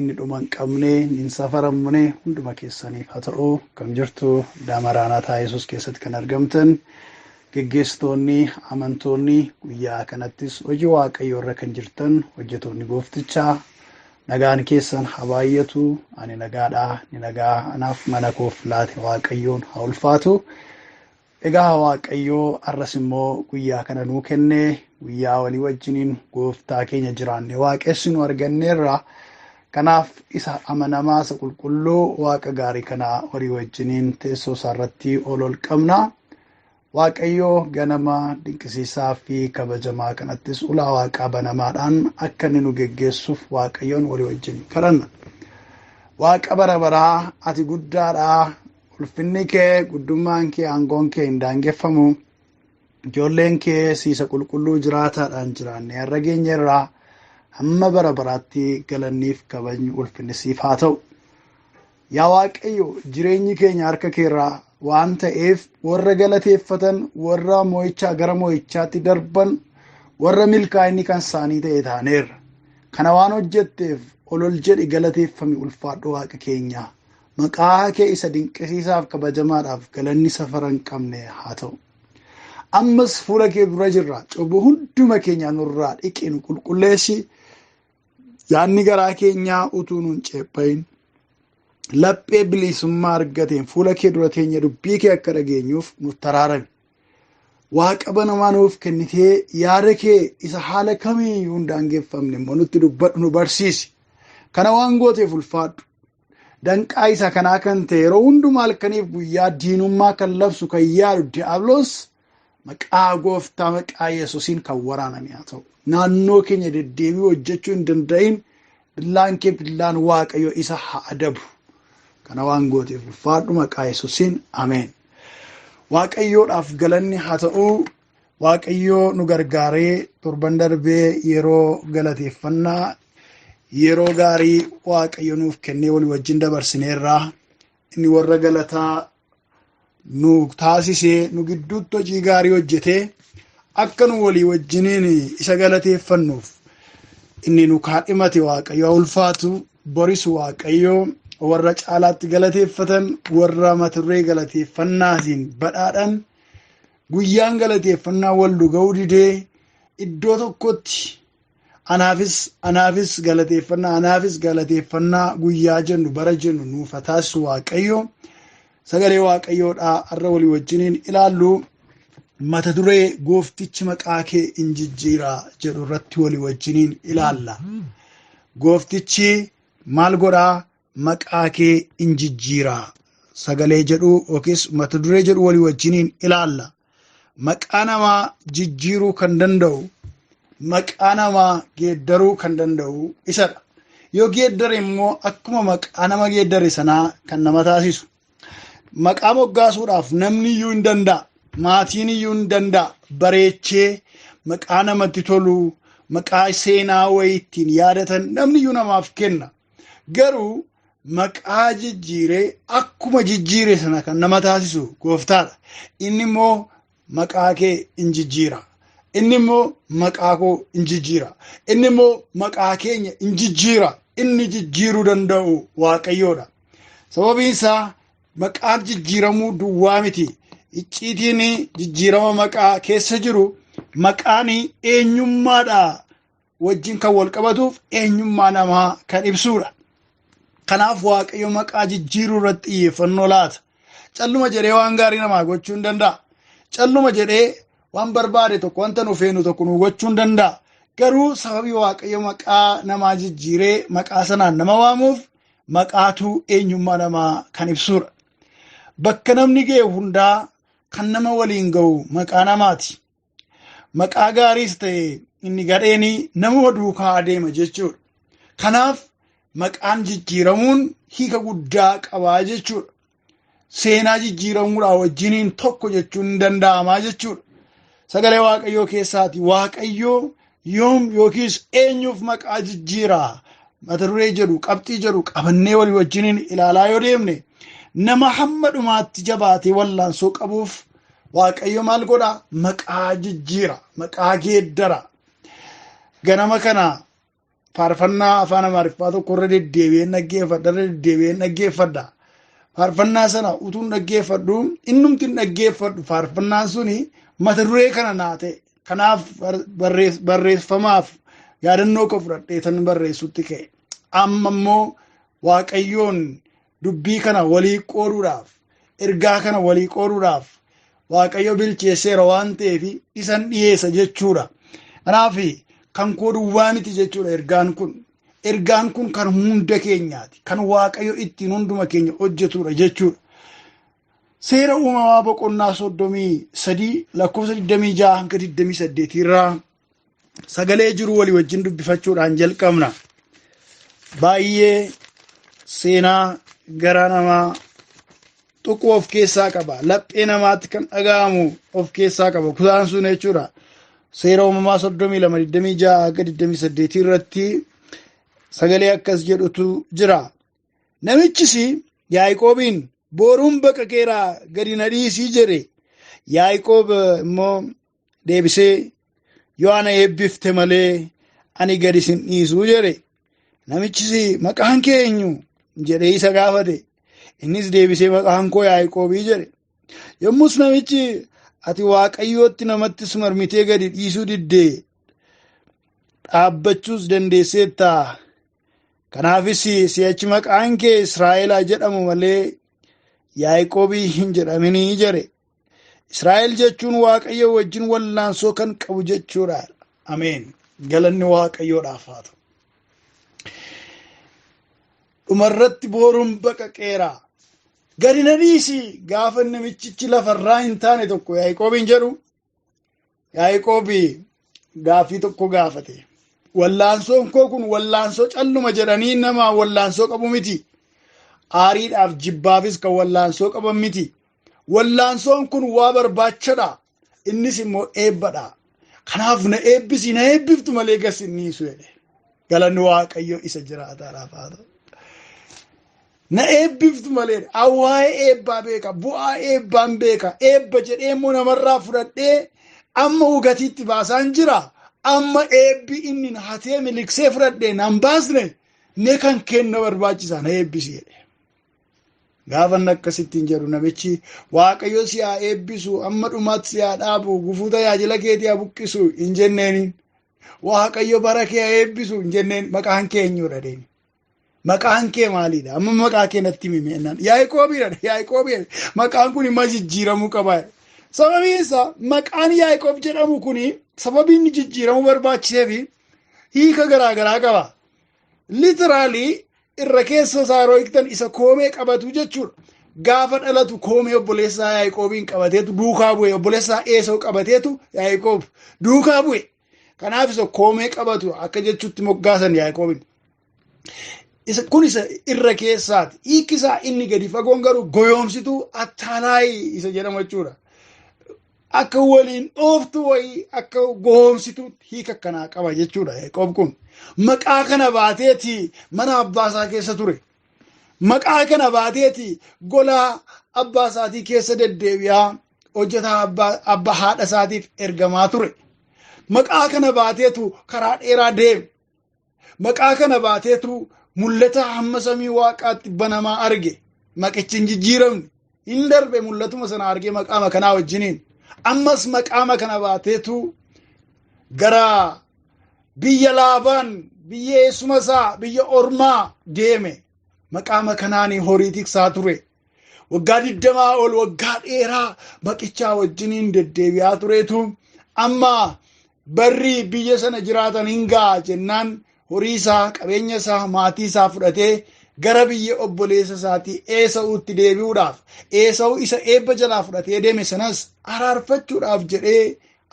inni dhuma hin qabne hin safaramne hunduma keessaniif haa ta'u kam jirtu daamaraanaataa yesus keessatti kan argamtan geggeessitoonni amantoonni guyyaa kanattis hojii waaqayyoo irra kan jirtan hojjetoonni gooftichaa nagaan keessan haa baay'atu ani nagaadhaa ni nagaa anaaf mana koof laate waaqayyoon haa ulfaatu Egaa Waaqayyo arras immoo guyyaa kana nuu kenne guyyaa walii wajjiniin gooftaa keenya jiraanne waaqessinu arganneerra. Kanaaf isa amanamaa isa qulqulluu waaqa gaarii kana walii wajjiniin teessoo isaa irratti ol ol qabna. Waaqayyo ganama dinqisiisaa fi kabajamaa kanattis ulaa waaqaa banamaadhaan akka inni nu geggeessuuf waaqayyoon walii wajjin kadhanna. Waaqa bara baraa ati guddaadhaa Ulfinni kee, guddummaan kee, aangoon kee hin daangeffamu. Ijoolleen kee siisa qulqulluu jiraataadhaan jiraannee har'a geenyerraa hamma bara baraatti galanniif kabajni ulfinni siif haa ta'u. Yaa Waaqayyo jireenyi keenya harka keerraa waan ta'eef warra galateeffatan warra mo'ichaa gara mo'ichaatti darban warra milkaa'inni kan isaanii ta'e taaneerra. Kana waan hojjetteef olol jedhi galateeffami ulfaadhu waaqa keenya. Maqaa kee isa dinqisiisaaf kabajamaadhaaf galanni safara hin qabne haa ta'u. Ammas fuula kee dura jirra. Cubbuu hunduma keenyaa nurraa dhiqi nu qulqulleessi. Yaadni garaa keenyaa utuu nun ceephayin laphee bilisummaa argateen fuula kee dura teenya dubbii kee akka dhageenyuuf nu taraarame. Waaqa banamaa nuuf kennitee yaada kee isa haala kamiyyuu hin daangeffamne immoo nutti dubbadhu nu barsiisi. Kana waan gooteef ulfaadhu. Danqaa isa kanaa kan ta'e yeroo hundumaa halkaniif guyyaa diinummaa kan labsu kan yaadu diyaabloos maqaa gooftaa maqaa yesusiin kan waraaname haa ta'u. Naannoo keenya deddeebi'uu hojjechuu hin danda'in billaan kee billaan waaqayyo isa haa adabu. Kana waan gooteef ulfaadhu maqaa yesusiin ameen. Waaqayyoodhaaf galanni haa ta'u Waaqayyoo nu gargaaree torban darbee yeroo galateeffannaa yeroo gaarii waaqayyo nuuf kennee walii wajjin dabarsineerra. Inni warra galataa nu taasisee nu gidduutti hojii gaarii hojjetee akka nu walii wajjiniin isa galateeffannuuf inni nu kaadhimate waaqayyo ulfaatu boris waaqayyo warra caalaatti galateeffatan warra maturree galateeffannaatiin badhaadhan Guyyaan galateeffannaa wal nu ga'uu didee iddoo tokkotti anaafis anaafis galateeffannaa anaafis galateeffannaa guyyaa jennu bara jennu nuuf haa taasisu waaqayyo sagalee waaqayyoodhaa har'a walii wajjiniin ilaallu mata duree gooftichi maqaa kee in jijjiira jedhu irratti walii wajjiniin ilaalla. Gooftichi maal godhaa maqaa kee in jijjiira sagalee jedhu yookiis mata duree jedhu walii wajjiniin ilaalla. Maqaa namaa jijjiiruu kan danda'u maqaa namaa geeddaruu kan danda'u isadha. Yoo geeddare immoo akkuma maqaa nama geeddare sanaa kan nama taasisu. Maqaa moggaasuudhaaf namni iyyuu hin danda'a. Maatiin iyyuu hin danda'a. Bareechee maqaa namatti tolu maqaa seenaa wayii ittiin yaadatan namni iyyuu namaaf kenna. Garuu maqaa jijjiiree akkuma jijjiire sana kan nama taasisu gooftaadha. Inni immoo maqaa kee in jijjiira. Inni immoo maqaa koo in jijjiira. Inni immoo maqaa keenya in jijjiira. Inni jijjiiruu danda'u waaqayyoodha. Sababiin isaa maqaan jijjiiramuu duwwaa miti. Icciitiin jijjiirama maqaa keessa jiru maqaan eenyummaadha. wajjin kan wal qabatuuf eenyummaa namaa kan ibsuudha. Kanaaf Waaqayyo maqaa jijjiiruu irratti xiyyeeffannoo laata. Calluma jedhee waan gaarii namaa gochuu hin danda'a. Calluma jedhee waan barbaade tokko wanta nu feenu tokko nu gochuu hin danda'a. Garuu sababii Waaqayyo maqaa namaa jijjiiree maqaa sanaan nama waamuuf maqaatu eenyummaa namaa kan ibsuudha. Bakka namni ga'e hundaa kan nama waliin ga'u maqaa namaati. maqaa gaariis ta'e inni gadheenii namuma duukaa adeema jechuudha. Kanaaf maqaan jijjiiramuun hiika guddaa qabaa jechuudha. Seenaa jijjiiramuudhaa wajjiniin tokko jechuun ni danda'amaa jechuudha. Sagalee Waaqayyoo keessaati Waaqayyoo yoom yookiis eenyuuf maqaa jijjiiraa mata duree jedhu qabxii jedhu qabannee walii wajjiniin ilaalaa yoo deemne nama hamma dhumaatti jabaatee wallaansoo qabuuf waaqayyo maal godha maqaa jijjiira maqaa geeddara ganama kana faarfannaa afaan amaariffaa tokko irra deddeebi'een dhaggeeffadha irra deddeebi'een dhaggeeffadha faarfannaa sana utuun dhaggeeffadhu innumtiin dhaggeeffadhu faarfannaan suni mata duree kana naa ta'e Kanaaf barreeffamaaf yaadannoo koo fudhadhee tan barreessutti ka'e. Amma immoo Waaqayyoon dubbii kana walii qooduudhaaf, ergaa kana walii qooduudhaaf Waaqayyo bilcheesseera waan ta'eef isan dhiyeessa jechuudha. Kanaaf kan koo duwwaa miti jechuudha ergaan kun. Ergaan kun kan hunda keenyaati. Kan Waaqayyo ittiin hunduma keenya hojjetudha jechuudha. Seera uumamaa boqonnaa soddomii sadii lakkoofsa digdamii ja'a hanga digdamii saddeetii irraa sagalee jiru walii wajjin dubbifachuudhaan jalqabna. Baay'ee seenaa garaa namaa tuqu of keessaa qaba. Laphee namaatti kan dhaga'amu of keessaa qaba. Kutaan sun jechuudha. Seera uumamaa soddomii lama digdamii ja'a hanga digdamii saddeetii irratti sagalee akkas jedhutu jira. Namichis Yaaqoobiin booruun bakka keeraa gadi na dhiisii jedhe. Yaaqoob immoo deebisee yoo ana eebbifte malee ani gadi sin dhiisuu jedhe. Namichis maqaan kee eenyu jedhee isa gaafate. Innis deebisee maqaan koo Yaaqoobii jedhe. Yommus namichi ati waaqayyootti namattis marmitee gadi dhiisuu diddee dhaabbachuus dandeesseetta Kanaafis si'achi maqaan kee Israa'elaa jedhamu malee Yaaqoobii hin jedhaminii jedhe. Israa'el jechuun Waaqayyo wajjin wallaansoo kan qabu jechuudha. Ameen. Galanni Waaqayyoodhaaf haa ta'u. Dhumarratti booruun baqaqeera. Gadi na dhiisi gaafa namichichi lafarraa hin taane tokko Yaaqoobiin jedhu Yaaqoobi gaaffii tokko gaafate. Wallaansoon koo kun wallaansoo calluma jedhanii nama wallaansoo qabu miti. Aariidhaaf jibbaafis kan wallaansoo qaban miti. Wallaansoon kun waa barbaachadha. Innis immoo eebbadha. Kanaaf na eebbisi na eebbiftu malee gas inni hin su'edhe. Galanni Waaqayyo isa jiraataadhaaf haa ta'u. Na eebbiftu malee waa'ee eebbaa beeka, bu'aa eebbaan beeka, eebba jedhee immoo namarraa fudhadhee amma ugatiitti baasaan jira. Amma eebbi inni na hatee miliksee fudhadhee nan baasne mee kan kenna barbaachisa na eebbisi jedhe. Gaafa inni akkasittiin jedhu namichi waaqayyo si haa eebbisu amma dhumaatti si haa dhaabu gufuu tajaajila keetii haa buqqisu hin jenneeniin. Waaqayyo bara kee haa eebbisu hin jenneen maqaan kee eenyudha deemi. Maqaan kee maalidha? Amma maqaa kee natti himi meennaan. Yaaqoobiidha. Yaaqoobiidha. Maqaan kun immoo jijjiiramuu qaba. Sababiin isaa maqaan Yaaqoob jedhamu kun sababii inni jijjiiramuu barbaachisee fi hiika garaa garaa qaba. Litiraalii irra keessa isaa yeroo hiiktan isa koomee qabatu jechuudha. Gaafa dhalatu koomee obboleessaa Yaaqoobiin qabateetu duukaa bu'e. Obboleessaa Eesoo qabateetu Yaaqoob duukaa bu'e. Kanaaf isa koomee qabatu akka jechuutti moggaasan Yaaqoobiin. Isa- Kun isa irra keessaati. Hiikki isaa inni gadi fagoon garuu goyoomsituu attaalaayi isa jedhamu jechuudha. Akka waliin dhooftu wayii akka goyoomsituu hiika akkanaa qaba jechuudha Yaaqoob kun. Maqaa kana baateeti mana abbaa isaa keessa ture. Maqaa kana baateeti gola abbaa isaatii keessa deddeebi'aa hojjetaa abbaa abba haadha isaatiif ergamaa ture. Maqaa kana baateetu karaa dheeraa deeme. Maqaa kana baateetu mul'ata hamma samii waaqaatti banamaa arge. Maqichi hin jijjiiramne. Hin darbe mul'atuma sana argee maqaama kanaa wajjiniin. Ammas maqaama kana baateetu gara biyya laafaan biyya eessuma isaa biyya ormaa deeme. Maqaama kanaan horii tiksaa ture. waggaa digdamaa ol waggaa dheeraa maqichaa wajjiniin deddeebi'aa tureetu amma barri biyya sana jiraatan hin ga'a jennaan horii isaa qabeenya isaa maatii isaa fudhatee gara biyya obboleessa isaatii eesa'uutti deebi'uudhaaf eesa'u isa eebba jalaa fudhatee deeme sanas araarfachuudhaaf jedhee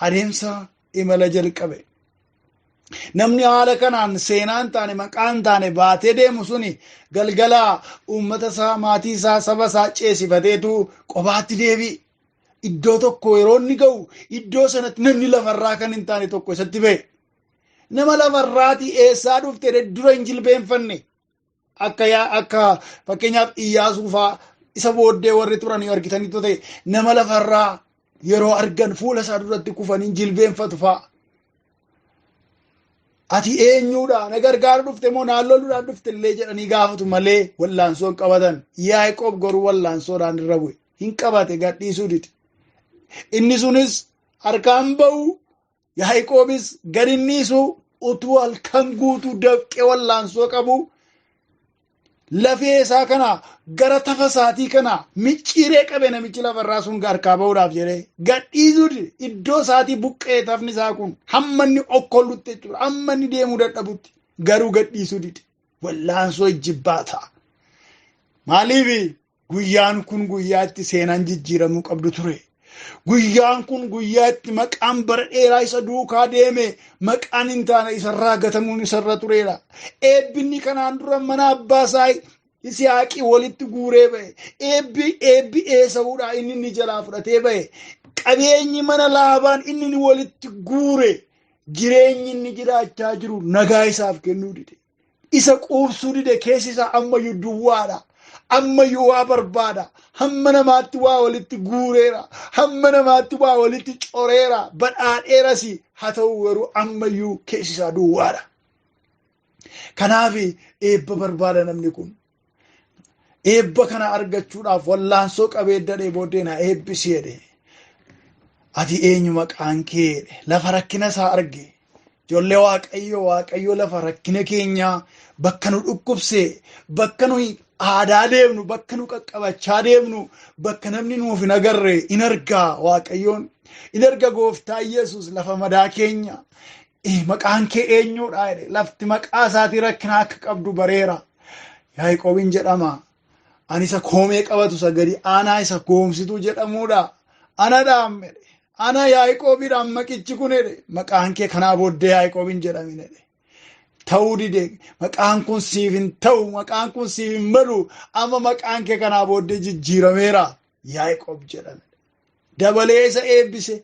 adeemsa imala jalqabe. Namni haala kanaan seenaa hin taane maqaa hin taane baatee deemu suni galgala uummata isaa maatii isaa saba isaa ceesifateetu qobaatti deebi'e. Iddoo tokko yeroo inni ga'u iddoo sanatti namni lafarraa kan hin taane tokko isatti ba'e. Nama lafarraati eessaa dhufte dura hin jilbeenfanne. akka yaa- akka fakkeenyaaf Iyyaasuu faa isa booddee warri turan yoo argitanitti ta'e nama lafarraa yeroo argan fuula isaa duratti kufanii jilbeenfatu faa. Ati eenyuudha na gargaaru dhufte moo naan loluudhaan dhufte illee jedhanii gaafatu malee wallaansoo hin qabatan. Yaaqoob garuu wallaansoodhaan irra bu'e. Hin qabate gadhiisuu dide. Inni sunis harkaan ba'u Yaaqoobis gad hin dhiisu utuu halkan guutuu dafqee wallaansoo qabu lafee isaa kana gara tafa isaatii kana micciiree qabe namichi lafarraa sun harkaa ba'uudhaaf jedhee gad dhiisuu dide iddoo isaatii buqqee tafni isaa kun hamma inni okkollutti jechuudha hamma inni deemuu dadhabutti garuu gad dhiisuu dide wallaansoo ijjibbaa ta'a. Maaliif Guyyaan kun guyyaa itti seenaan jijjiiramuu qabdu ture. Guyyaan kun guyyaa itti maqaan bara dheeraa isa duukaa deeme maqaan hin taane isarraa gatamuun isarra tureera. Eebbinni kanaan dura mana abbaa isaa Isihaaqii walitti guuree ba'e. Eebbi eebbi eesa'uudha inni inni jalaa fudhatee ba'e. Qabeenyi mana laabaan inni inni walitti guure jireenyi inni jiraachaa jiru nagaa isaaf kennuu dide. isa quubsuu dide keessi isaa ammayyuu duwwaadha. Ammayyuu waa barbaada. Hamma namaatti waa walitti guureera. Hamma namaatti waa walitti coreera. Badhaadheeras haa ta'u garuu ammayyuu keessi isaa duwwaadha. Kanaaf eebba barbaada namni kun. eebba kana argachuudhaaf wallaansoo qabee dadhee booddee na eebbisi jedhe ati eenyu maqaan kee jedhe lafa rakkina isaa arge ijoollee waaqayyo waaqayyo lafa rakkina keenyaa bakka nu dhukkubse bakka nu aadaa deemnu bakka nu qaqqabachaa deemnu bakka namni nuuf hin agarre in argaa waaqayyoon in arga gooftaa yesus lafa madaa keenya Ee maqaan kee eenyuudha jedhe lafti maqaa isaatii rakkina akka qabdu bareera. Yaaqoobiin jedhama. Ani isa koomee qabatu isa gadi aanaa isa goomsituu jedhamuudha. Ana dhaam jedhe. Ana Yaaqoobiidhaan maqichi kun jedhe. Maqaan kee kanaa booddee Yaaqoobiin jedhamin jedhe. Ta'uu dide maqaan kun siif hin ta'u maqaan kun siif hin malu amma maqaan kee kanaa booddee jijjiirameera Yaaqoob jedhame. dabalee isa eebbise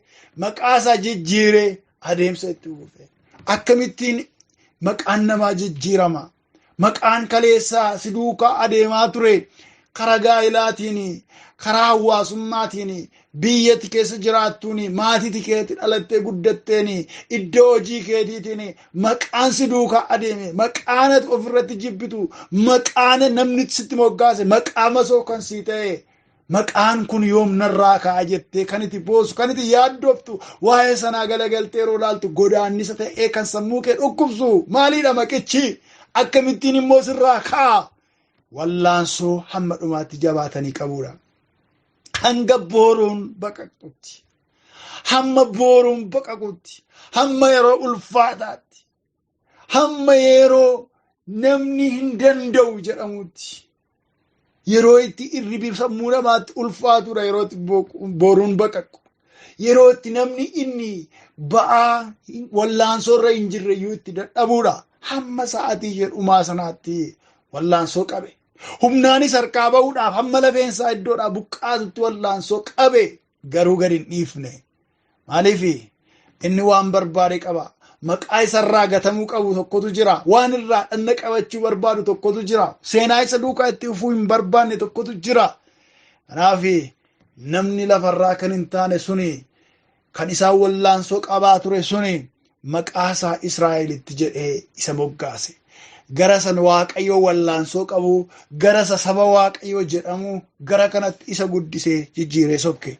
maqaa isaa jijjiiree adeemsa itti fufe akkamittiin maqaan namaa jijjiirama maqaan kaleessaa si duukaa adeemaa ture karaa gaa'ilaatiin karaa hawaasummaatiin biyyatti keessa jiraattuun maatiiti keetti dhalattee guddatteen iddoo hojii keetiitiin maqaan si duukaa adeeme maqaan ati ofirratti jibbitu maqaan namni sitti moggaase maqaa masoo kan sii ta'e Maqaan kun yoom narraa ka'a jettee kan itti boosu, kan itti yaaddoftu, waa'ee sanaa galagaltee yeroo laaltu godaannisa ta'ee kan sammuu kee dhukkubsu maaliidha maqichi? Akkamittiin immoo sirraa ka'a? Wallaansoo hamma dhumaatti jabaatanii qabuudha. Hanga booruun baqaqxutti, hamma booruun baqaqutti, hamma yeroo ulfaataatti, hamma yeroo namni hin danda'u jedhamutti. Yeroo itti irribi sammuu namaatti ulfaatudha yeroo itti booruun baqaqu. Yeroo itti namni inni ba'aa wallaansoo irra hin jirre iyyuu itti dadhabuudha. Hamma sa'aatii ishee dhumaa sanaatti wallaansoo qabe. Humnaanis harkaa ba'uudhaaf hamma lafeensaa iddoodhaa buqqaatutti wallaansoo qabe. garuu gad hin dhiifne maaliif inni waan barbaade qaba maqaa isarraa gatamuu qabu tokkotu jira waan irraa dhanna qabachuu barbaadu tokkotu jira seenaa isa duukaa itti fufuu hin barbaanne tokkotu jira kanaaf namni lafarraa kan hin taane suni kan isaan wallaansoo qabaa ture suni maqaa isaa Israa'el itti jedhee isa moggaase. Gara san Waaqayyoo wallaansoo qabu, gara isa saba Waaqayyoo jedhamu, gara kanatti isa guddisee jijjiiree sobke.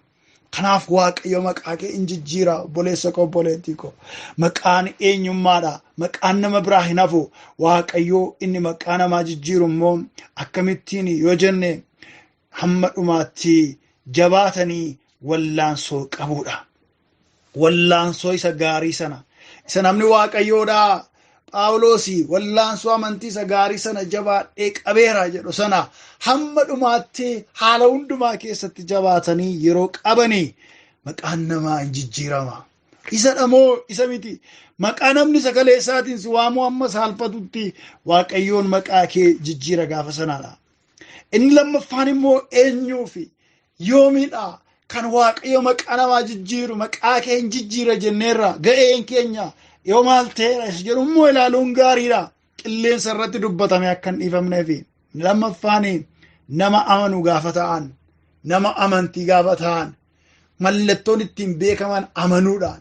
Kanaaf Waaqayyo maqaa kee in jijjiira obboleessa koo obboleettii koo. Maqaan eenyummaadha. Maqaan nama biraa hin hafu. Waaqayyo inni maqaa namaa jijjiiru immoo akkamittiin yoo jenne hamma dhumaatti jabaatanii wallaansoo qabuudha. wallaansoo isa gaarii sana isa namni waaqayyoodhaa phaawulosi wallaansoo amantii isa gaarii sana jabaadhee qabeera jedhu sana hamma dhumaatti haala hundumaa keessatti jabaatanii yeroo qabanii maqaan namaa hin jijjiirama. Isa dhamoo isa miti maqaa namni sagalee isaatiin si waamuu amma saalfatutti waaqayyoon maqaa kee jijjiira gaafa sanaadha. Inni lammaffaan immoo eenyuu fi yoomidha kan waaqayyo maqaa namaa jijjiiru maqaa kee hin jijjiira jenneerra ga'een keenya yoo maal ta'eera isa jedhu immoo ilaaluun gaariidha. Qilleensa irratti dubbatame akka hin dhiifamneef lammaffaan nama amanu gaafa ta'an nama amantii gaafa ta'an mallattoon ittiin beekaman amanuudhaan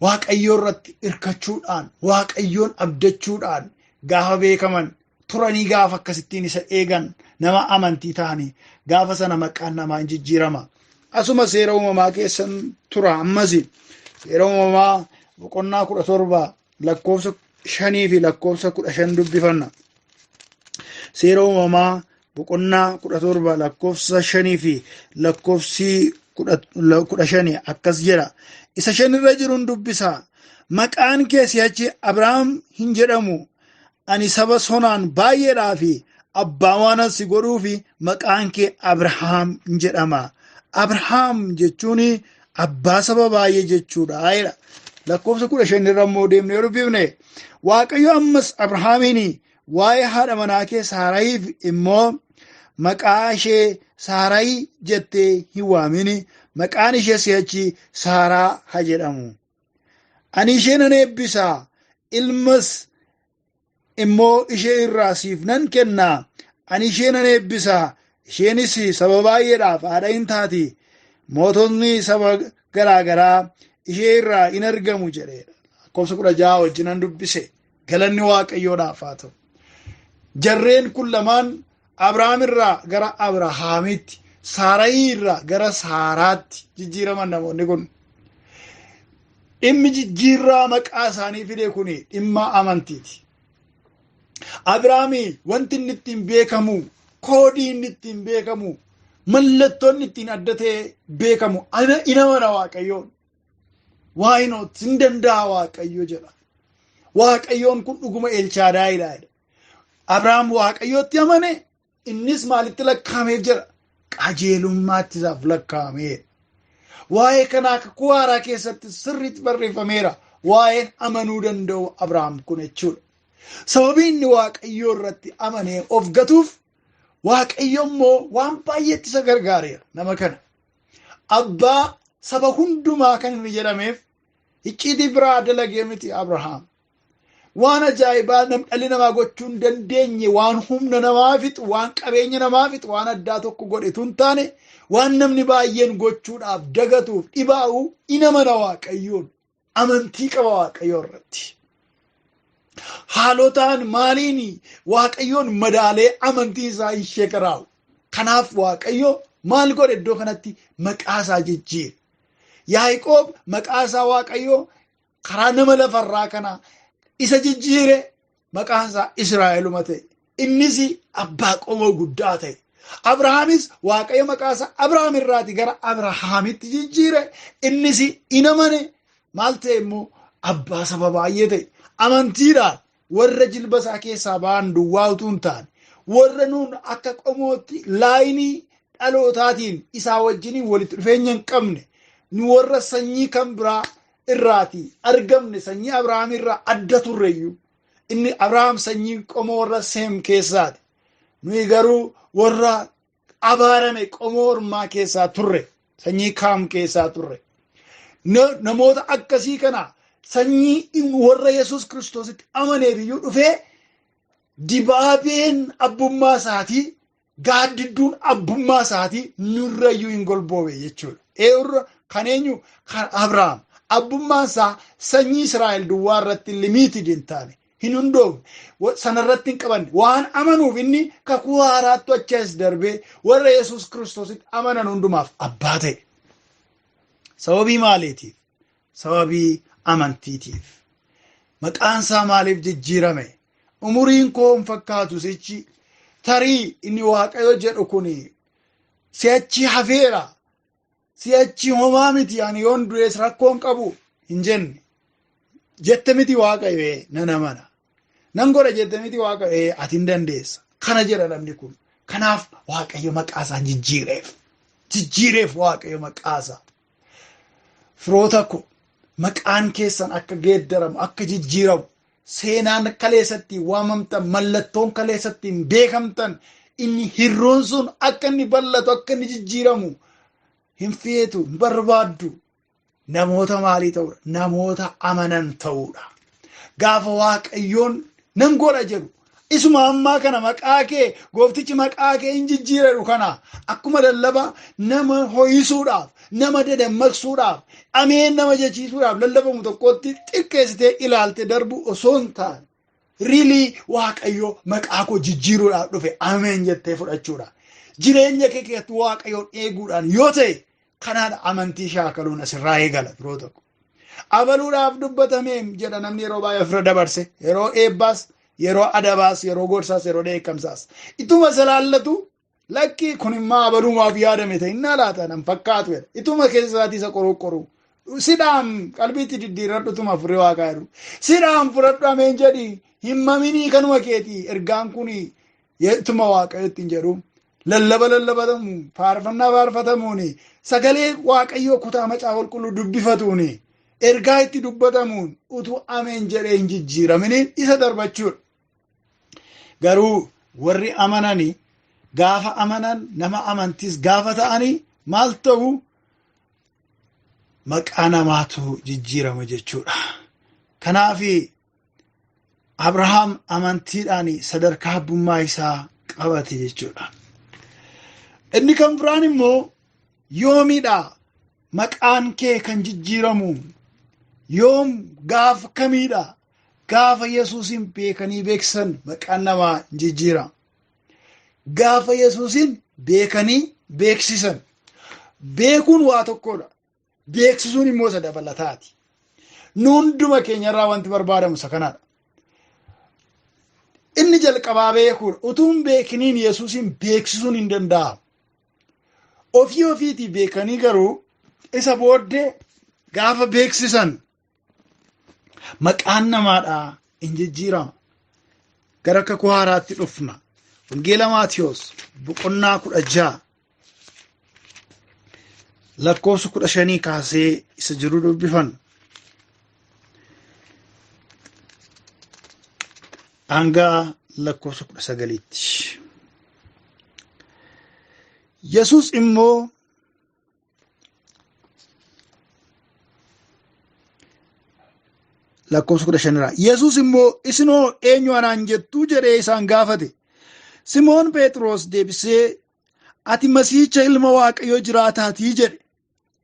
waaqayyoo irratti hirkachuudhaan waaqayyoon abdachuudhaan gaafa beekaman turanii gaafa akkasittiin isa eegan nama amantii ta'anii gaafa sana maqaan namaa hin jijjiirama. Asuma seera uumamaa keessan tura ammas seera uumamaa boqonnaa kudha torba lakkoofsa shanii fi lakkoofsa kudha shan dubbifanna. Seera uumamaa boqonnaa kudha torba lakkoofsa shanii fi lakkoofsi kudha shanii akkas jedha isa shanirra jiruun dubbisa maqaan kee si'achi abrahaam hin jedhamu ani saba sonaan baay'eedhaa fi abbaa waanan si godhuu fi maqaan kee abrahaam hin jedhama abrahaam jechuun abbaa saba baay'ee jechuudha jedha lakkoofsa kudha shanirra immoo deemnee yoo dubbifne waaqayyo ammas abrahaamiin Waa'ee haadha manaakee Saarayiif immoo maqaa ishee Saarayi jettee hin waamin, maqaan ishee si'achi Saaraa haa jedhamu. Ani ishee nan eebbisa, ilmas immoo ishee irraa siif nan kenna. Ani ishee nan eebbisa, isheenis saba baay'eedhaaf haadha in taati. Moototni saba garaa garaa ishee irraa in argamu jedheera. Lakkoofsa kudha ja'a wajjinan dubbise. Galanni Waaqayyoodhaaf haa ta'u. Jarreen kun lamaan Abrahaam irraa gara Abrahaamitti, Saarayii irraa gara Saaraatti jijjiiraman namoonni kun. Dhimmi jijjiirraa maqaa isaanii fide kun dhimma amantiiti. Abrahaami wanti inni ittiin beekamu, koodii inni ittiin beekamu, mallattoon ittiin adda ta'ee beekamu, ana inamana Waaqayyoon. Why not? Hin danda'a Waaqayyo jedha. Waaqayyoon kun dhuguma Elchaadaayidha. Abrahaam Waaqayyootti amane innis maalitti lakkaa'amee jira? Qajeelummaatti isaaf lakkaa'amee. Waa'ee kanaa kakuu haaraa keessatti sirriitti barreeffameera. Waa'een amanuu danda'u Abrahaam kun jechuudha. Sababii inni Waaqayyoo irratti amanee of gatuuf Waaqayyo immoo waan baay'eetti isa gargaareera nama kana. abbaa saba hundumaa kan inni jedhameef icciitii biraa dalagee miti Abrahaam. Waan ajaa'ibaa nam- dhalli namaa gochuu hin dandeenye waan humna namaa fixu, waan qabeenya namaa fixu, waan addaa tokko godhe tun taane waan namni baay'een gochuudhaaf dagatuuf dhibaa'u in amana waaqayyoon. amantii qaba waaqayyoo irratti. Haalotaan maaliin waaqayyoon madaalee amantii isaa hin sheekaraa'u. Kanaaf waaqayyo maal godhe iddoo kanatti maqaa isaa jijjiire. Yaaqoob maqaa isaa waaqayyoo karaa nama lafarraa kana isa jijjiire maqaan isaa Israa'eluma ta'e. Innis abbaa qomoo guddaa ta'e. Abrahaamis waaqayyo maqaa isaa Abrahaam irraati gara Abrahaamitti jijjiire. Innis in amane maal ta'e immoo abbaa saba baay'ee ta'e. Amantiidhaan warra jilba isaa keessaa ba'an duwwaa utuu hin taane warra nuun akka qomootti laayinii dhalootaatiin isaa wajjiniin walitti dhufeenya hin qabne nu warra sanyii kan biraa irraati argamne sanyii Abrahaam irraa adda turre iyyuu inni Abrahaam sanyii qomoo warra Seem keessaati. Nuyi garuu warra abaarame qomoo ormaa keessaa turre sanyii Kaam keessaa turre. Na- Namoota akkasii kana sanyii in- warra Yesuus Kiristoositti amaneef iyyuu dhufee dibaabeen abbummaa isaatii gaaddidduun abbummaa isaatii nurrayyuu hin golboowe jechuudha. Eerra kan eenyu kan Abrahaam abbummaan isaa sanyii Israa'el duwwaa irratti limiitid hin taane hin hundoofne wa- sanarratti hin qabanne waan amanuuf inni kakuu haaraattu achi as darbee warra Yesuus Kiristoositti amanan hundumaaf abbaa ta'e. Sababii maaliitiif? sababii amantiitiif. Maqaan isaa maaliif jijjiirame? Umuriin koo hin fakkaatu sichi tarii inni waaqayyo jedhu kun si'achi hafeera. Si'achi homaa miti ani yoon du'es rakkoon qabu hin jenne. Jette miti waaqayyo nan amana. Nan godha jette miti waaqayyo ati hin dandeessa. Kana jedha namni kun. Kanaaf waaqayyo maqaa isaa jijjiireef. Jijjiireef waaqayyo maqaa isaa. Firoota ko, maqaan keessan akka geeddaramu, akka jijjiiramu, seenaan kaleessa ittiin waamamtan, mallattoon kaleessa ittiin beekamtan, inni hirruun sun akka inni bal'atu, akka inni jijjiiramu hin feetu, hin barbaaddu. Namoota maalii ta'uudha? Namoota amanan ta'uudha. Gaafa Waaqayyoon nan godha jedhu Isuma ammaa kana maqaa kee gooftichi maqaa kee hin jijjiireeru kana akkuma lallaba nama ho'isuudhaaf, nama dadammaqsuudhaaf, ameen nama jechiisuudhaaf lallabamu tokkotti xiqqeessitee ilaalte darbu osoo hin taane rilii waaqayyo maqaa koo jijjiiruudhaaf dhufe ameen jettee fudhachuudha. Jireenya kee keessatti waaqayyoon eeguudhaan yoo ta'e kanaadha amantii shaakaluun asirraa eegala firoota koo. amanuudhaaf dubbatameem jedha namni yeroo baay'ee ofirra dabarse yeroo eebbaas yeroo adabaas yeroo gorsaas yeroo dheekkamsaas ituma isa laallatu lakkii kun immaa abalumaaf yaadame ta'e innaa laata nan fakkaatu jedha ituma keessaatii isa qoruu sidhaan qalbiitti diddiirradhu tuma furrii waaqaa jedhu sidhaan fudhadhu ameen jedhi hin maminii kanuma keetii ergaan kun ituma waaqayyootti hin jedhu Lallaba lallabatamu, faarfannaa faarfatamuun, sagalee Waaqayyoo kutaa macaafa qulqulluu dubbifatuun, ergaa itti dubbatamuun utuu ameen jedhee hin jijjiiraminiin isa darbachuudha. Garuu warri amanani gaafa amanan nama amantiis gaafa ta'ani maal ta'u maqaa namaatu jijjiirama jechuudha. Kanaaf Abrahaam amantiidhaan sadarkaa abbummaa isaa qabate jechuudha. Inni kan biraan immoo yoomidha maqaan kee kan jijjiiramu yoom gaafa kamiidha gaafa yesuusin beekanii beeksisan maqaan namaa jijjiira. Gaafa yesuusin beekanii beeksisan beekuun waa tokkodha. beeksisuun immoo isa dabalataati. Nu hunduma keenyarraa wanti barbaadamu isa kanaadha. Inni jalqabaa beekuudha. Utuu hin beekiniin Yesuusiin beeksisuun hin danda'amu. Ofii ofiitii beekanii garuu isa booddee gaafa beeksisan Maqaan namaadhaa hin jijjiirama. Gara kakuu haaraatti dhufna. Wangeela Maatiyoos boqonnaa kudha ja'a lakkoofsa kudha shanii kaasee isa jiru dubbifan. Hanga lakkoofsa kudha sagaliitti. Yesuus immoo lakkoofsa kudha shanirraa yesus immoo isinoo eenyu anaan jettuu jedhee isaan gaafate simoon phexros deebisee ati masiicha ilma waaqayyoo jiraataatii jedhe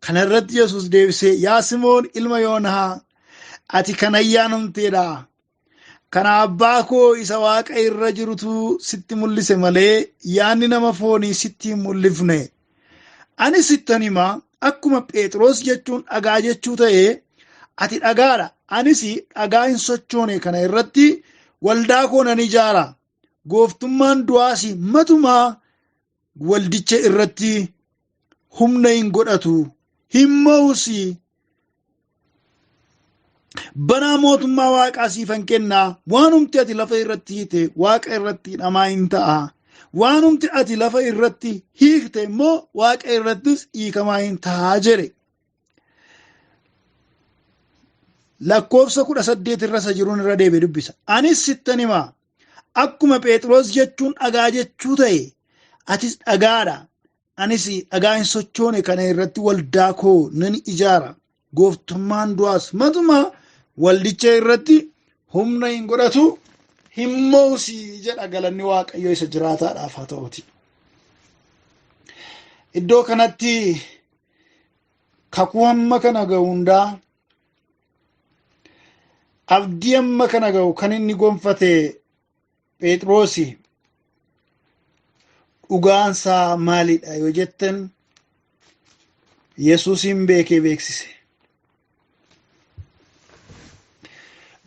kana irratti yesus deebisee yaa simoon ilma yoonaa ati kan ayyaanamteedha Kana abbaa koo isa waaqa irra jirutu sitti mul'ise malee yaanni nama foonii sitti hin mul'ifne. Ani sittan hima akkuma Phexros jechuun dhagaa jechuu ta'e ati dhagaadha. Anis dhagaa hin sochoone kana irratti waldaa koo nan ijaara. Gooftummaan du'aas matumaa waldicha irratti humna hin godhatu hin mo'us banaa mootummaa waaqaa siifan kennaa waanumti ati lafa irratti hiite waaqa irratti namaa hin ta'a waanumti ati lafa irratti hiikte immoo waaqa irrattis hiikamaa hin ta'a jedhe lakkoofsa kudha saddeet irra isa jiruun irra deebi'e dubbisa anis sittan himaa Akkuma Phexros jechuun dhagaa jechuu ta'e atis dhagaadha. Anis dhagaa hin sochoone kana irratti waldaa koo nan ijaara. Gooftummaan du'aas matumaa waldicha irratti humna hin godhatu hin moosi jedha galanni waaqayyo isa jiraataadhaaf haa ta'uti. Iddoo kanatti kakuu hamma kana ga'u hundaa Abdii amma kana ga'u kan inni gonfate Phexroosi. Dhugaansaa maalidha yoo jettan Yesuusiin beekee beeksise.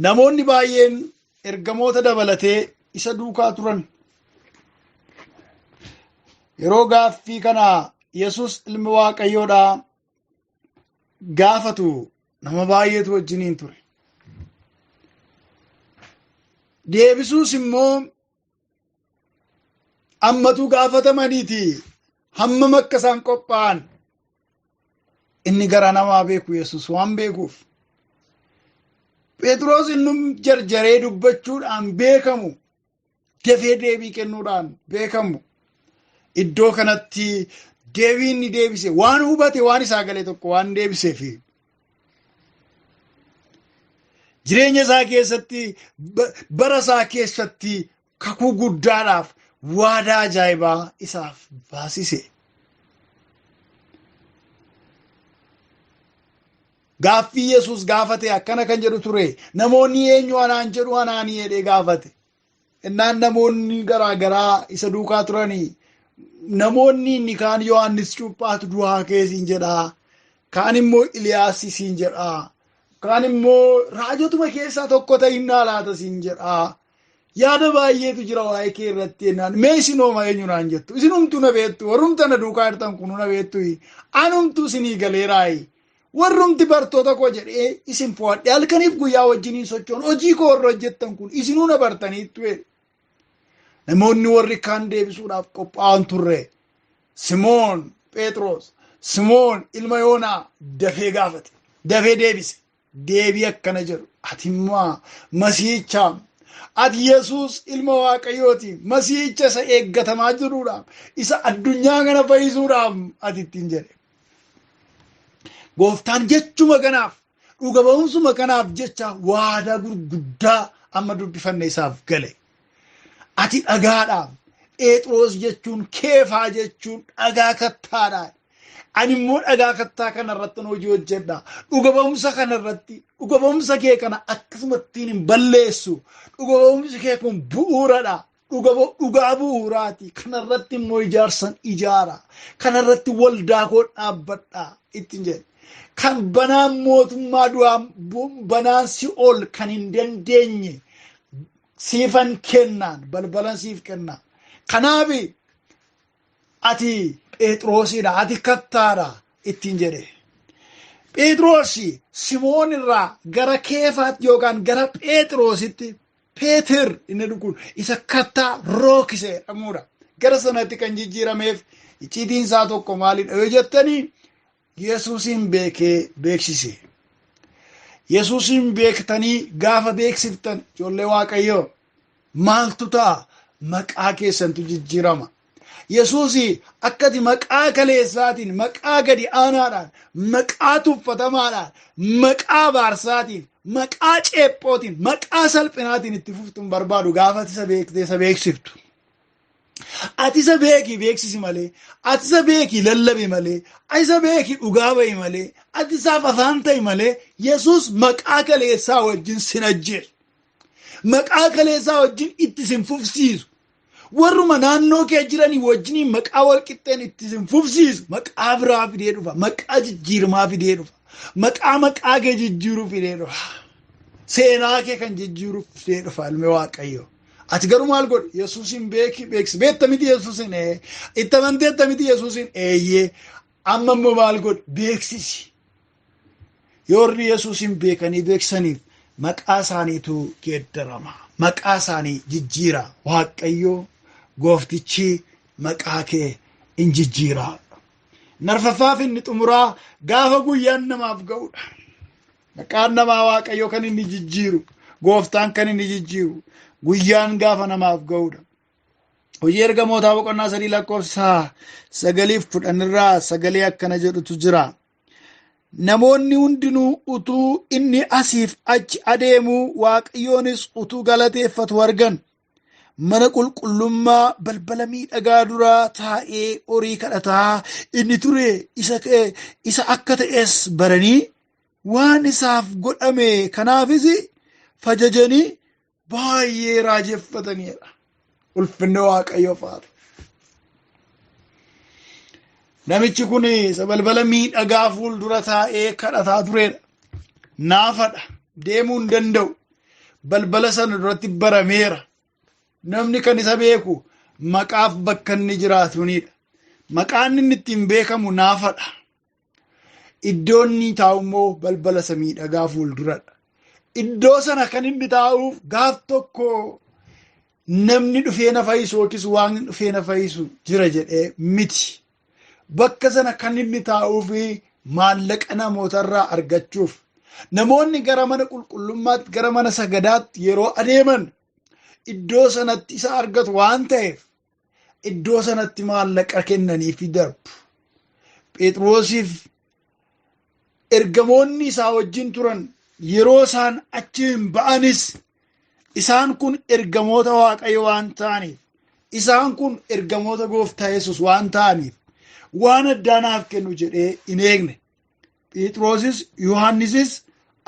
Namoonni baay'een ergamoota dabalatee isa duukaa turan. Yeroo gaaffii kana Yesuus ilmi Waaqayyoodhaa gaafatu nama baay'eetu wajjiniin ture. Deebisuus immoo ammatu gaafatamaniiti hammam akka isaan qophaa'an inni garaa namaa beeku Yesuus waan beekuuf. Phexros inni jarjaree dubbachuudhaan beekamu dafee deebii kennuudhaan beekamu. Iddoo kanatti deebii inni deebise waan hubate waan isaa galee tokko waan deebiseef jireenya isaa keessatti bara isaa keessatti kakuu guddaadhaaf waadaa ajaa'ibaa isaaf baasise. Gaaffii Yesuus gaafate akkana kan jedhu ture. Namoonni eenyu anaan jedhu anaanii jedhee gaafate. Innaan namoonni garaa garaa isa duukaa turanii namoonni inni kaan Yohaannis Cuuphaatu du'aa ka'e siin jedhaa. Kaan immoo Iliyaas siin jedhaa. Kaan immoo raajotuma keessaa tokko ta'innaa laata siin jedhaa. Yaada baay'eetu jira waa'ee kee irratti jennaan mee isin hooma eenyu naan jettu isin humtuu na beektu warrumta na duukaa jirtan kun na beektu anumtuu isinii galeeraayi Warrumti bartoota koo jedhee isin fo'adhe halkaniif guyyaa wajjiniin sochoon hojii koo warra hojjettan kun isinuu na bartaniittu jedhe. Namoonni warri kaan deebisuudhaaf qophaa'an turre. Simoon Phexros Simoon ilma Yoonaa dafee gaafate. Dafee deebise. Deebii akkana jedhu. Ati immoo masiihichaam. Ati Yesuus ilma Waaqayyooti. Masiihicha isa eeggatamaa jiruudhaaf. Isa addunyaa kana fayyisuudhaaf ati ittiin jedhe. Gooftaan jechuma kanaaf dhuga ba'umsuma kanaaf jecha waadaa gurguddaa amma dubbifanne isaaf gale. Ati dhagaadha. Pheexroos jechuun keefaa jechuun dhagaa kattaadha. Ani immoo dhagaa kattaa kana irratti hojii hojjedha. Dhuga ba'umsa kana irratti dhuga ba'umsa kee kana akkasumattiin hin balleessu. Dhuga ba'umsi kee kun bu'uuradha. dhuga bo- dhugaa bu'uuraati kanarratti immoo ijaarsan ijaara kanarratti waldaa koo dhaabbadha ittiin jedhe kan banaan mootummaa du'aa bu- banaan si'ool kan hin dandeenye siifan kennaan balbalan siif kenna kanaaf ati phexroosidha ati kattaadha ittiin jedhe phexroosi simoon irraa gara keefaatti yookaan gara phexroositti Peeter inni jedhu kun isa kattaa rookise jedhamuudha. Gara sanatti kan jijjiirameef icciitiin isaa tokko maalidha yoo jettanii Yesuusiin beekee beeksise. Yesuusiin beektanii gaafa beeksiftan ijoollee Waaqayyoo maaltu ta'a maqaa keessantu jijjiirama. Yesuusii akka ati maqaa kaleessaatiin, maqaa gadi aanaadhaan, maqaa tuffatamaadhaan, maqaa baarsaatiin, maqaa ceephootiin, maqaa salphinaatiin itti fuftu hin barbaadu gaafa ati isa beektee isa beeksiftu. Ati isa beekii beeksisi malee, ati isa beekii lallabi malee, ati isa beekii dhugaa ba'i malee, ati isaaf afaan ta'i malee, Yesuus maqaa kaleessaa wajjin sin ajjeesu. Maqaa kaleessaa wajjin itti sin fufsiisu. Warruma naannoo kee jiranii wajjiniin maqaa walqixxeen itti isin fufsiisu maqaa biraa fidee dhufa. Maqaa jijjiiramaa fidee dhufa. Maqaa maqaa kee jijjiiruu fidee dhufa. Seenaa kee kan jijjiiruu fidee dhufa ilmi waaqayyoo. Ati garuu maal godhe? Yesuusin beeki beeksi. Beekta miti Yesuusin ee. Itti amanteetta miti Yesuusin eeyyee. Amma immoo maal godhe? Beeksisi. Yoo warri Yesuusiin beekanii beeksaniif maqaa isaaniitu geeddarama. Maqaa isaanii jijjiira. Waaqayyo gooftichi maqaa kee in jijjiira. Narfaffaaf inni xumuraa gaafa guyyaan namaaf ga'udha. Maqaan namaa Waaqayyo kan inni jijjiiru, gooftaan kan inni jijjiiru, guyyaan gaafa namaaf ga'udha. Hojii ergamootaa boqonnaa sadii lakkoofsa sagaliif kudhan irraa sagalee akkana jedhutu jira. Namoonni hundinuu utuu inni asiif achi adeemuu Waaqayyoonis utuu galateeffatu argan. Mana qulqullummaa balbala miidhagaa duraa taa'ee horii kadhataa inni ture isa, isa akka ta'es baranii waan isaaf godhame kanaafis fajajanii baay'ee raajeffataniidha. Ulfinni Waaqayyoof haa ta'u. Namichi kun isa balbala miidhagaa fuuldura taa'ee kadhataa tureedha. Naafadha. Deemuu hin danda'u. Balbala sana duratti barameera. Namni kan isa beeku maqaaf bakka inni jiraatuniidha. Maqaan inni ittiin beekamu naafadha. Iddoon inni taa'u immoo balbala isa miidhagaa fuulduradha. Iddoo sana kan inni taa'uuf gaaf tokko namni dhufee na fayyisu yookiis waan dhufee na fayyisu jira jedhee miti. Bakka sana kan inni taa'uuf maallaqa namootarraa argachuuf. Namoonni gara mana qulqullummaatti, gara mana sagadaatti yeroo adeeman iddoo sanatti isa argatu waan ta'eef iddoo sanatti maallaqa kennaniifi darbu. Phexrosiif ergamoonni isaa wajjin turan yeroo isaan achiin ba'anis isaan kun ergamoota Waaqayyo waan ta'aniif isaan kun ergamoota gooftaa Yesus waan ta'aniif waan addaa naaf kennu jedhee hin eegne. Phexrosis Yohaannisis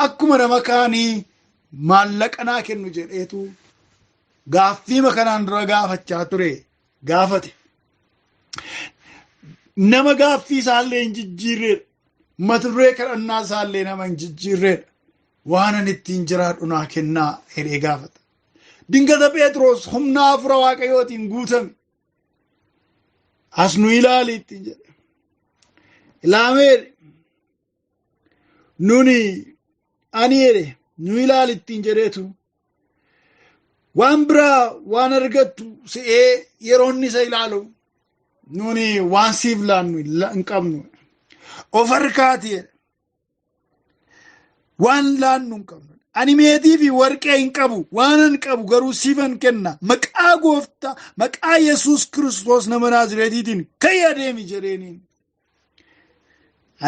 akkuma nama kaanii maallaqa naa kennu jedheetu gaaffiima kanaan dura gaafachaa ture gaafate. Nama gaaffii isaallee hin jijjiirreedha. Mata duree kadhannaa isaallee nama hin jijjiirreedha. Waan ani ittiin jiraadhu naa kennaa jedhee gaafata. Dingata Phexros humna hafuura waaqayyootiin guutame. as nu ilaali ittiin jedhe ilaamee nuni ani jedhe nu ilaali ittiin jedheetu waan biraa waan argattu se'ee yeroo inni isa ilaalu nuni waan siif laannu hin qabnu of harkaati jedhe waan laannu hin qabnu ani meetii fi warqee hin qabu waanan qabu garuu siifan kenna maqaa gooftaa maqaa yesus kiristoos nama naazireetiitiin ka'ii adeemi jedheeniin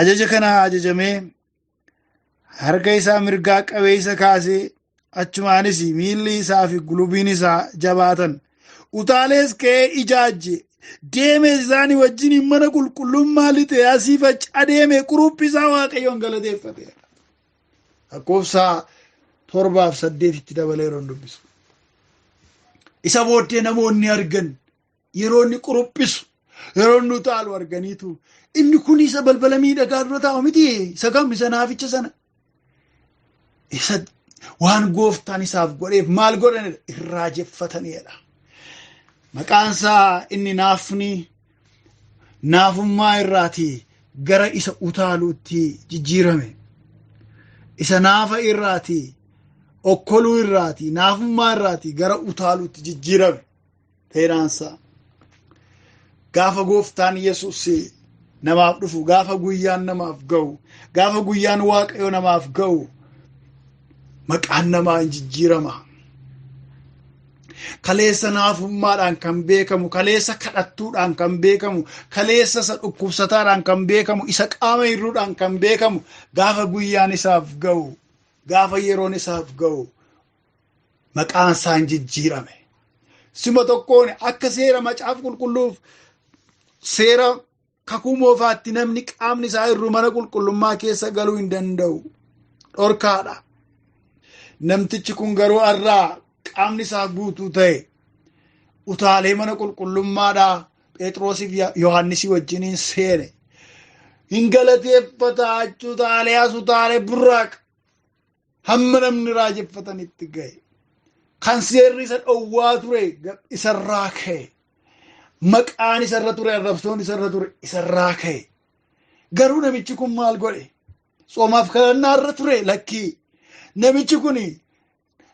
ajaja kana ajajamee harka isaa mirgaa qabee isa kaasee achumaanis miilli isaa fi gulubiin isaa jabaatan utaalees ka'ee ijaajje deeme isaanii wajjin mana qulqullummaa lixee asii fachi adeeme quruphii isaa waaqayyoon galateeffate lakkoofsa torbaaf saddeetitti dabalee yeroon dubbisu isa booddee namoonni argan yeroo inni quruphisu yeroo inni utaalu arganiitu inni kun isa balbala miidhagaa dura taa'u miti isa kam isa naaficha sana isa waan gooftaan isaaf godheef maal godhanidha irraa jeffatanidha maqaansaa inni naafni naafummaa irraati gara isa utaaluutti jijjiirame isa naafa irraati okkoluu irraati naafummaa irraati gara utaaluutti jijjiirame Seeraansaa gaafa gooftaan Yesuus namaaf dhufu gaafa guyyaan namaaf ga'u gaafa guyyaan waaqayyo namaaf ga'u maqaan namaa hin jijjiirama. Kaleessa naafummaadhaan kan beekamu, kaleessa kadhattuudhaan kan beekamu, kaleessa isa dhukkubsataadhaan kan beekamu, isa qaama hir'uudhaan kan beekamu gaafa guyyaan isaaf ga'u, gaafa yeroon isaaf ga'u maqaan isaa hin jijjiirame. Suma tokkoon akka seera macaafa qulqulluuf seera kakuu moofaatti namni qaamni isaa irru mana qulqullummaa keessa galuu hin danda'u. Dhorkaadha. Namtichi kun garuu har'aa qaamni isaa guutuu ta'e utaalee mana qulqullummaadhaa Phexroosiif Yohaannisii wajjiniin seene. Hin galateeffata utaalee as utaalee burraaq hamma namni raajeffatanitti ga'e kan seerri isa dhowwaa ture isarraa ka'e maqaan isarra ture arrabsoon isarra ture isarraa ka'e garuu namichi kun maal godhe soomaaf kadhannaa irra ture lakkii namichi kun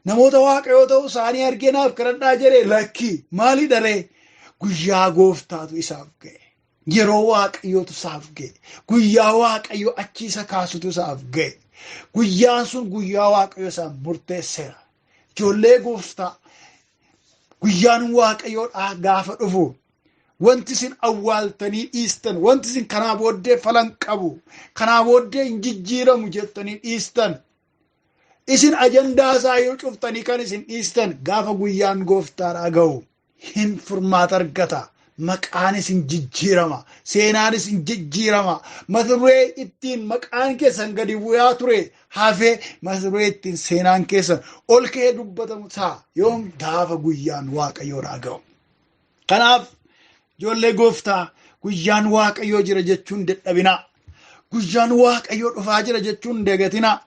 namoota waaqayyoo ta'uu isaanii argee naaf kadhadhaa jedhe lakkii maali dharee guyyaa gooftaatu isaaf ga'e Yeroo waaqayyootu isaaf ga'e. Guyyaa waaqayyo achi isa kaasutu isaaf ga'e. Guyyaan sun guyyaa waaqayyo isaaf murteesseera. Ijoollee gooftaa guyyaan waaqayyoodhaa gaafa dhufu wanti isin awwaaltanii dhiistan wanti isin kanaa booddee falan qabu kanaa booddee hin jijjiiramu jettanii dhiistan Isin ajandaa isaa yoo cuftanii kan isin dhiistan gaafa guyyaan gooftaadhaa ga'u hin furmaata argata. Maqaan isin jijjiirama. Seenaan isin jijjiirama. Mata duree ittiin maqaan keessan gadi bu'aa ture hafee mata duree ittiin seenaan keessan ol ka'ee dubbatamu ta'a. Yoom gaafa guyyaan waaqayyoodhaa ga'u. Kanaaf ijoollee gooftaa guyyaan waaqayyoo jira jechuun dadhabinaa. Guyyaan waaqayyoo dhufaa jira jechuun dagatinaa.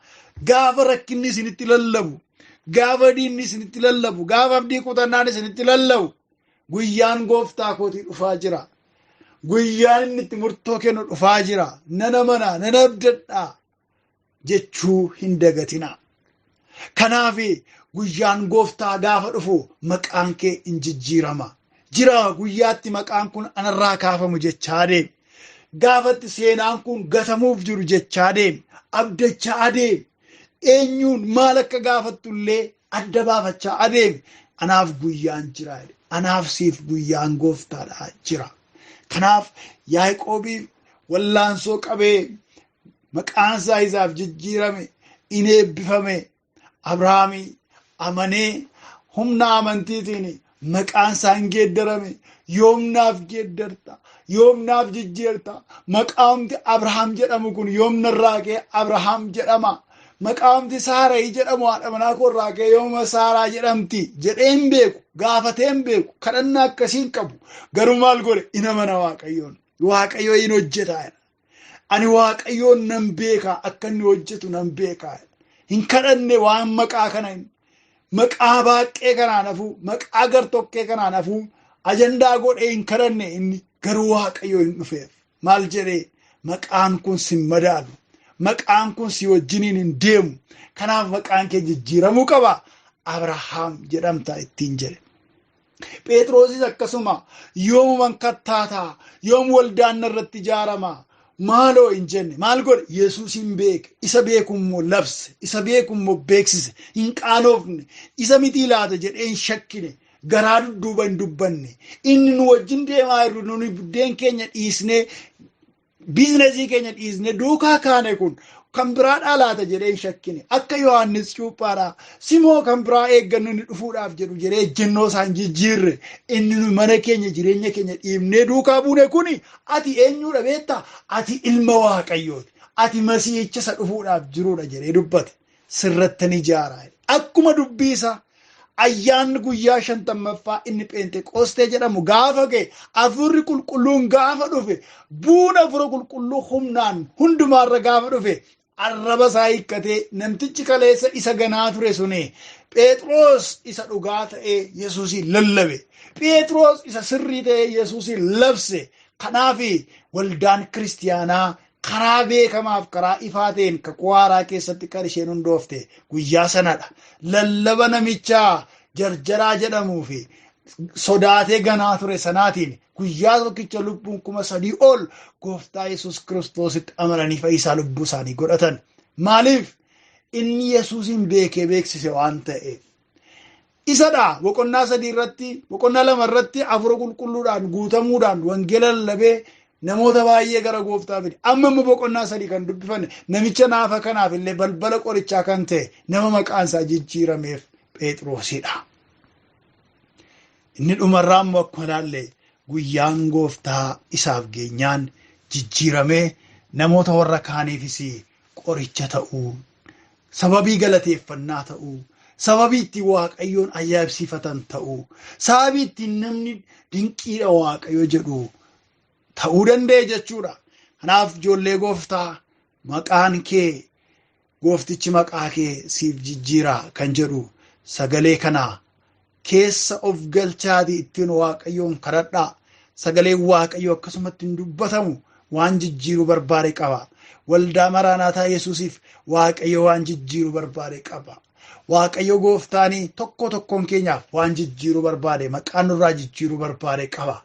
Gaafa rakkinni isinitti lallabu, gaafa diinni isinitti lallabu, gaafa abdii kutannaan isinitti lallabu, guyyaan gooftaa kootii dhufaa jira. Guyyaan inni itti murtoo kennu dhufaa jira. Nan amanaa, nan abdadhaa. jechuu hin dagatinaa. Kanaaf guyyaan gooftaa gaafa dhufu maqaan kee in jijjiirama. Jira guyyaatti maqaan kun anarraa kaafamu jechaa deem. Gaafatti seenaan kun gatamuuf jiru jechaa deem. Abdachaa adeem. Eenyuun maal akka gaafattu illee adda baafachaa adeem. Anaaf guyyaan jira. Anaaf siif guyyaan gooftaadha jira. Kanaaf Yaaqoobiif wallaansoo qabee maqaan isaa isaaf jijjiirame in eebbifame abrahaami amanee humna amantiitiin maqaan isaa hin geeddarame yoomnaaf geeddarta yoomnaaf jijjiirta maqaamti abrahaam jedhamu kun yoomna irraa kee abrahaam jedhama maqaamti saarayi jedhamu haadha manaa koo irraa kee yooma saaraa jedhamti jedhee hin beeku gaafatee hin beeku kadhannaa akkasii hin qabu garuu maal godhe in amana waaqayyoon waaqayyo in hojjeta Ani waaqayyoon nan beekaa akka inni hojjetu nan beekaa. Hin kadhanne waan maqaa kana hin maqaa baaqqee kanaan hafuu maqaa gartokkee kanaan hafuu ajandaa godhee hin kadhanne inni garuu waaqayyoo hin dhufeef. Maal jedhee maqaan kun sin madaalu. Maqaan kun si wajjiniin hin deemu. Kanaaf maqaan kee jijjiiramuu qaba. Abrahaam jedhamta ittiin jedhe. Phexrosis akkasuma yoomuman kattaata yoom waldaan irratti ijaarama maaloo hin jenne maal godhe yesuus hin beeke isa beeku immoo labse isa beeku immoo beeksise hin qaanoofne isa mitii laata jedhee hin shakkine garaa dudduuba hin dubbanne inni nu wajjin deemaa jirru nuni buddeen keenya dhiisnee Biiznasii keenya dhiisne duukaa kaane kun kan biraadhaa laata jedhee hin shakkine. Akka Yohaannis cuuphaadhaa simoo kan biraa eeggannu inni dhufuudhaaf jedhu jedhee ejjennoo isaa hin jijjiirre. Inni nu mana keenya jireenya keenya dhiibnee duukaa buune kuni ati eenyuudha beektaa? Ati ilma Waaqayyooti. Ati masiihicha isa dhufuudhaaf jiruudha jedhee dubbate. sirrattan ijaara. Akkuma dubbii isaa ayyaanni guyyaa shantammaffaa inni Pheenxeqoostee jedhamu gaafa ga'e hafuurri qulqulluun gaafa dhufe bu'uun hafuura qulqulluu humnaan hundumaarra gaafa dhufe arraba isaa hiikkatee namtichi kaleessa isa ganaa ture suni Pheexroos isa dhugaa ta'ee Yesuusiin lallabe. Pheexroos isa sirrii ta'ee Yesuusiin labse. Kanaaf waldaan kiristiyaanaa Karaa beekamaaf karaa ifaa ta'een kakuu haaraa keessatti kan isheen hundoofte guyyaa sanadha. Lallaba namicha jarjaraa jedhamuu fi sodaatee ganaa ture sanaatiin guyyaa tokkicha lubbuun kuma sadii ol gooftaa Yesuus Kiristoositti amananii fayyisaa lubbuu isaanii godhatan. Maaliif? Inni Yesuusiin beekee beeksise waan ta'eef. Isadha boqonnaa sadii irratti boqonnaa lama irratti hafuura qulqulluudhaan guutamuudhaan wangeela lallabee namoota baay'ee gara gooftaa fide. Amma immoo boqonnaa sadii kan dubbifanne namicha naafa kanaaf illee balbala qorichaa kan ta'e nama maqaan isaa jijjiirameef Pheexiroosidha. Inni dhumarraa immoo akkuma ilaalle guyyaan gooftaa isaaf geenyaan jijjiiramee namoota warra kaaniifis qoricha ta'uu, sababii galateeffannaa ta'uu, sababii ittiin Waaqayyoon ayyaabsifatan ta'uu, sababii ittiin namni dinqiidha Waaqayyo jedhu ta'uu danda'e jechuudha. Kanaaf ijoollee gooftaa maqaan kee gooftichi maqaa kee siif jijjiira kan jedhu sagalee kana keessa of galchaatii ittiin waaqayyoon kadhadhaa sagaleen waaqayyoo akkasumatti hin dubbatamu waan jijjiiruu barbaade qaba waldaa maraanaataa yesuusiif waaqayyo waan jijjiiruu barbaade qaba waaqayyo gooftaanii tokko tokkoon keenyaaf waan jijjiiruu barbaade maqaan nurraa jijjiiruu barbaade qaba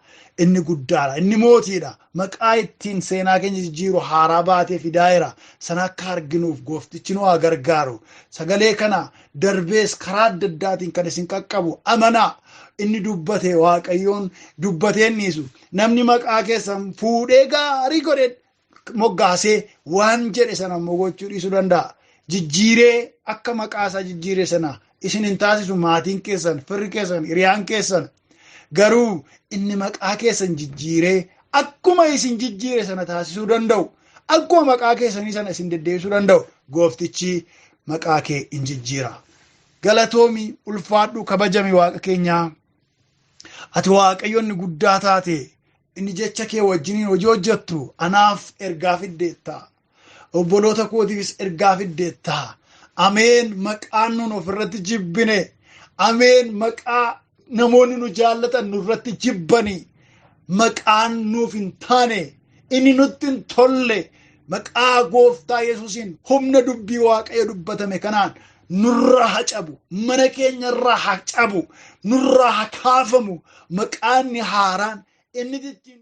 inni guddaadha inni mootiidha maqaa ittiin seenaa keenya jijjiiru haaraa baatee fidaa'eera sana akka arginuuf gooftichi nu haa gargaaru sagalee kana darbees karaa adda addaatiin kan isin qaqqabu amanaa inni dubbate waaqayyoon dubbateen dhiisu namni maqaa keessan fuudhee gaarii godhe moggaasee waan jedhe sana immoo gochuu dhiisuu danda'a. Jijjiiree akka maqaa isaa jijjiire sana isin hin taasisu maatiin keessan, firri keessan, hiriyaan keessan Garuu inni maqaa keessan jijjiiree akkuma isin jijjiire sana taasisuu danda'u. Akkuma maqaa keessanii sana isin deddeebisuu danda'u. Gooftichi maqaa kee in jijjiira. Galatoomi ulfaadhu kabajami waaqa keenyaa. Ati waaqayyo inni guddaa taate inni jecha kee wajjiniin hojii hojjettu anaaf ergaa fiddeetta. obboloota kootiifis ergaa fiddeetta ameen maqaan nuun ofirratti jibbine ameen maqaa namoonni nu jaallatan nurratti jibbani maqaan nuuf hin taane inni nutti hin tolle maqaa gooftaa yesuusiin humna dubbii waaqayyo dubbatame kanaan nurraa haa cabu mana keenyarraa haa cabu nurraa haa kaafamu maqaanni haaraan inni ittiin